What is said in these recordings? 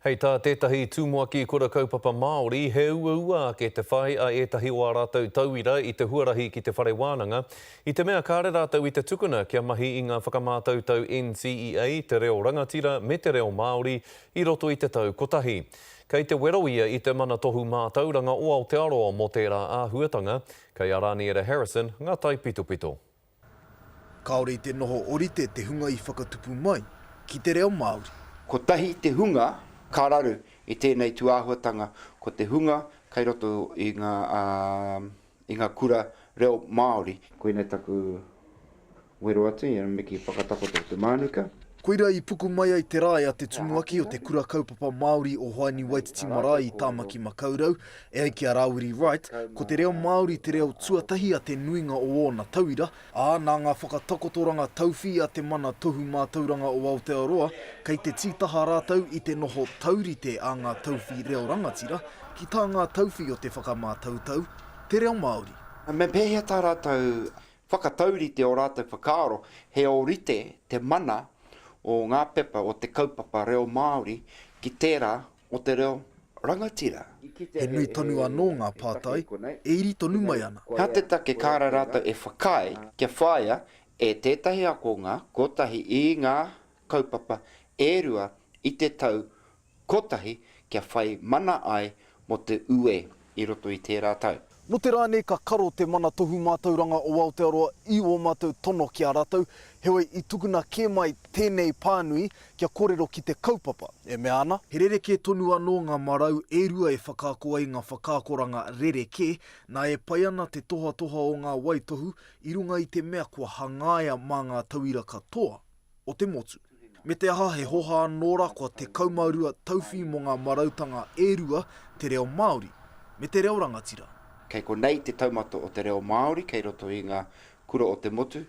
Hei tā tētahi tumuaki kura kaupapa Māori, he uaua ake te whai a ētahi o ā rātou tauira i te huarahi ki te whare wānanga, i te mea kāre rātou i te tukuna kia mahi i ngā whakamātautau NCEA, te reo rangatira me te reo Māori i roto i te tau kotahi. Kei te wero ia i te Mana Tohu Mātauranga o Aotearoa mō tērā āhuatanga, kei a Raniera Harrison ngā taipitopito. Kāore i te noho orite te hunga i whakatupu mai ki te reo Māori. Kotahi te hunga ka raru i tēnei tūāhuatanga, ko te hunga kei roto i ngā, ā, i ngā kura reo Māori. Koinei taku wero atu i a Miki Whakatakoto Te Mānuka. Koirā i puku mai ai te rae a te tumuaki o te Kura Kaupapa Māori o Hoani Waititi Marae i Tāmaki Makaurau, E ai ki a Rāwiri Wright, ko te reo Māori te reo tuatahi a te nuinga o ōna tauira, ā, nā ngā whakatakotoranga tauwhī a Te Mana Tohu Mātauranga o Aotearoa, kei te tītaha rātou i te noho taurite a ngā tauwhī reo rangatira ki tā ngā tauwhī o te whakamātautau, te reo Māori. Me pēhea tā rātou whakataurite ō rātou whakaaro, he ōrite te mana o ngā pepa o te kaupapa reo Māori ki tērā o te reo rangatira. He nui tonu anō ngā pātai e iri tonu mai ana. Hea te take kāre rātou e whakaae kia whāia e tētahi ako ngā kotahi i ngā kaupapa e rua i te tau kotahi kia whai mana ai mō te uē? i roto i tērā tau. Nō te rā nei ka karo te Mana Tohu Mātauranga o Aotearoa i ō mātou tono ki a rātou, heoi i tukuna kē mai tēnei pānui kia kōrero ki te kaupapa, e mea ana. He rerekē tonu anō ngā marau e rua e whakaako ai ngā whakaakoranga rerekē, nā e pai ana te tohatoha o ngā waitohu i runga i te mea kua hangaia mā ngā tauira katoa. o te motu. Me te aha he hoha anō ra kua 12 tauwhi mo nga marautanga e rua te reo Maori me te reo rangatira. Kei konei te taumata o te reo Maori kei roto i nga kura o te motu,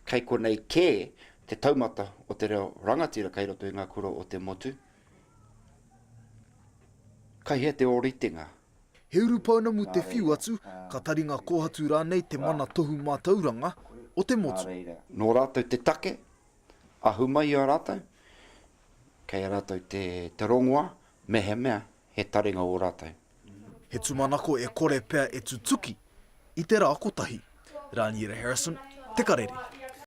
kei konei ke te taumata o te reo rangatira kei roto i nga kura o te motu. Kei hea te oritenga He uru pounamu te whiu atu, ka taringa kōhatu rānei te mana tohu mātauranga o te motu. Nō rātou te take, ahu mai i a rātou, kei a rātou te rongoā, mehemea he taringa ō rātou. He tūmanako e kore pea e tutuki i te rā kotahi. Rāniera Harrison, Te Karere.